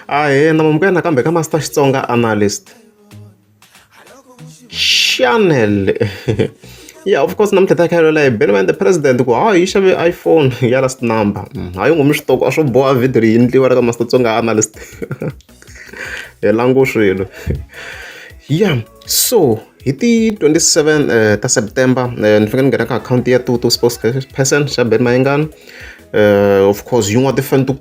Ahee ni amukela nakambe ka Master Xitsonga Analyst. Xanel ya of course namuntlha hi ta kha hi lwela hi beni va ende president ku hawa yi xave iPhone ya last number. Hayi ngomu switoko a swo boha video leyi endliwa ka Master Xitsonga Analyst. Hi langu swilo. Ya so hi ti 27 ta September ni fika ni nghena ka akhawunti ya Tutu Sports Person xa Ben Mayengani. Of course yin'wana ti-fan to.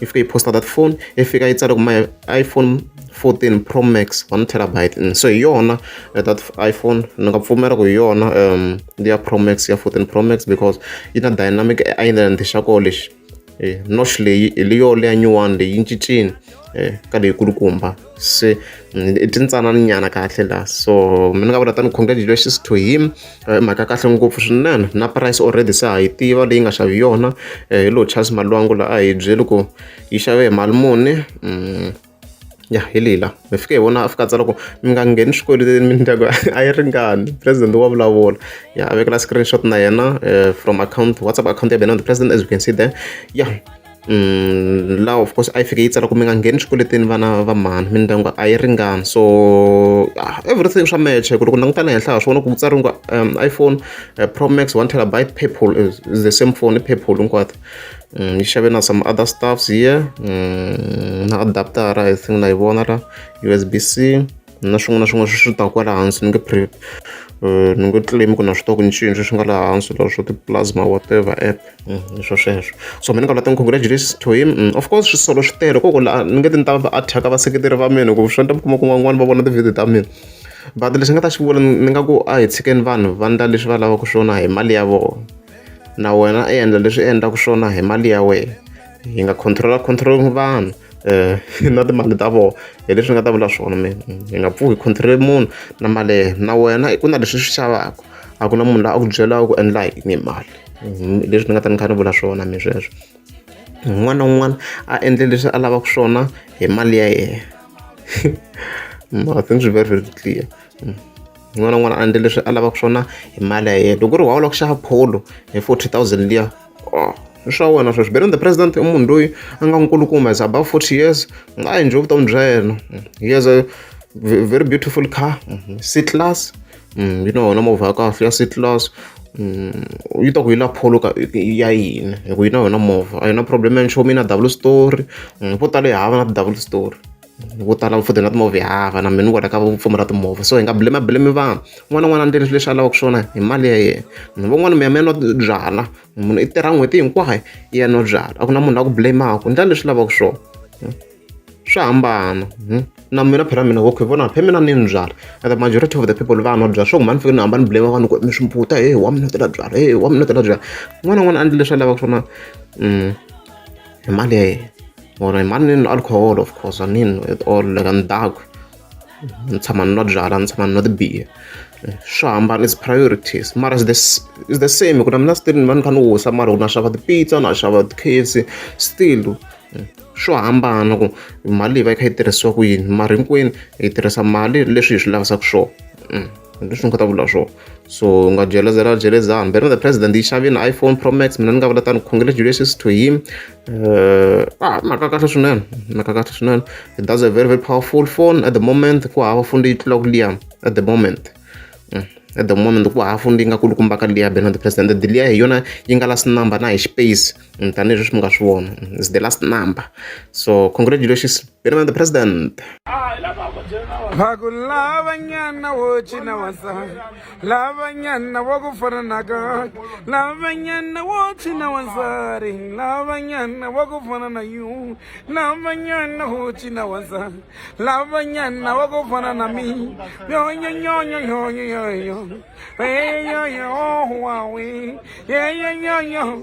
yi fika yi posta that phone yi fika yi tsala ku my iphone 14 pro max 1 terabyte mm, so hi yona eh, that iphone ni nga pfumela ku hi yona um ya pro max ya 14 pro max because yi na dynamic island xa ko lexi eh, nosh leyi hi leyo leya nyuwani leyi yi cincini eh, ka leyikulukumba se i tintsanana nyana kahle la so mi ni nga vula tani congratulations to him i mhaka kahle ngopfu swinene na price already se ha yi tiva leyi nga xavi yona eh, hi lo charles malwangu la a hi byeli ku yi xave hi mali muni mm, ya hi lila mi fike hi vona a fika tsala ku mi nga ngheni swikweleti mindyangu a yi ringani president wa vulavula ya a vekela screenshot na yena eh, from account whatsapp account ya benand president as you can see there ya Mm, law of course a yi fike yi tsala ku mi nga ngheni swikweletini vana va mhani mindyangu a yi ringani so ah, everything swa match ku loko langutana henhla ha swi vona ku tsari nga um, iphone uh, pro max one terabyte purple is, is the same phone purple hinkwato mm, yi xave na some other stuffs here mm, na adaptara i think na yi vona la usb c na swin'wana na swin'wana swi swi taka kwala hansi ni nge pre eh, ni nge claim ku na swi ku cinci swi nga laha hansi la swo ti-plasma whatever app mm, swo sweswo so mina ka la ten congratulations to him mm, of course swisolo swi tele koko la ni nge ti ni ta va attack vaseketeri va mina ku swi ta kuma ku van'wana va vona ti-video ta mina but lexi nga ta xi vula ni nga ku a hi tshikeni vanhu va ndla leswi va lavaka swona hi mali ya vona na wena i endla leswi i endlaka swona hi mali ya wena hi nga controla control vanhu um na timali ta vona hi leswi ni nga ta vula swona mina hi nga pfuki hi control-le munhu na mali ya yena na wena ku na leswi swi xavaka a ku na munhu loyi a ku byelaka ku endla yini hi mali hi leswi ni nga ta ni kha ni vula swona mi sweswo un'wana na un'wana a endle leswi a lavaka swona hi mali ya yena i think swi very very clear un'wana na un'wana a endle leswi a lavaka swona hi mali ya yena loko ku ri why u lava ku xava pholo hi forty thousand liya. oh i swa wena sweswi beren the president i munhu loyi a nga nkulukumba is above 40 years a hi nje vutomi bya yena he has a very beautiful car c class mm, yi na wona movha ya kahle ya c class mm, yi ta ku yi la pholo ya yini hi ku yi na wena movha a yi na problem ya nchumu yi na double story mm, vo tala yi hava na ti-double story vo tala va foda na timovha ya hava na mina ni kwala ka ku pfumala timovha so hi nga blame blame vanhu un'wana na un'wana a endleni swilo leswi a lavaka swona hi mali ya yena ni van'wani mi ya mi ya nwa byalwa munhu i tirha n'hweti hinkwayo i ya nwa byalwa a ku na munhu la ku blame-aka ndlela leswi lavaka swona hmm? swa hambana hmm? na mina phela mina okay vona phe mina ni ndzala the majority of the people va nwa byala swo ku mani fike ni hamba ni blame vanhu ku mi swi mputa he wa mi notela byala he wa mi notela byala n'wana n'wana a ndli leswi a lavaka swona um money or money and alcohol of course i mean with all like and dark ni tshama ni nwa byalwa ni tshama ni nwa tibiya swi hambana is priorities mara is the, is the same ku na mina still ni va ni kha ni wisa mara ku na xava tipizza na xava ti-kfc still swo hambana ku mali leyi va yi kha yi tirhisiwa ku yini mara hinkwenu hi tirhisa mali leswi hi swi lavisaka swona ndi leswi ni kota ku vula swona so u nga jelezela jelezani better the president yi xave na iphone pro max mina ni nga vula tani congratulations to him uh, ah mhaka kahle swinene mhaka kahle swinene it does a very very powerful phone at the moment ku hava phone leyi tlula ku liya at the moment mm. at the moment ku hava phone leyi nga kulukumbaka liya better the president liya hi yona yi nga last number na hi space tanihi leswi mi nga swi vona is the last number so congratulations been the president vakulavanyana wo cina wansati lavanyana wa ku fana na ka lavanyana wo cina wansati lavanyana wa ku fana na yu lavanyana wo cina wansati lavanyana wa ku fana na mi yonyonyonyonyonyoyoyo eyeyonyohowawe yeyonyonyo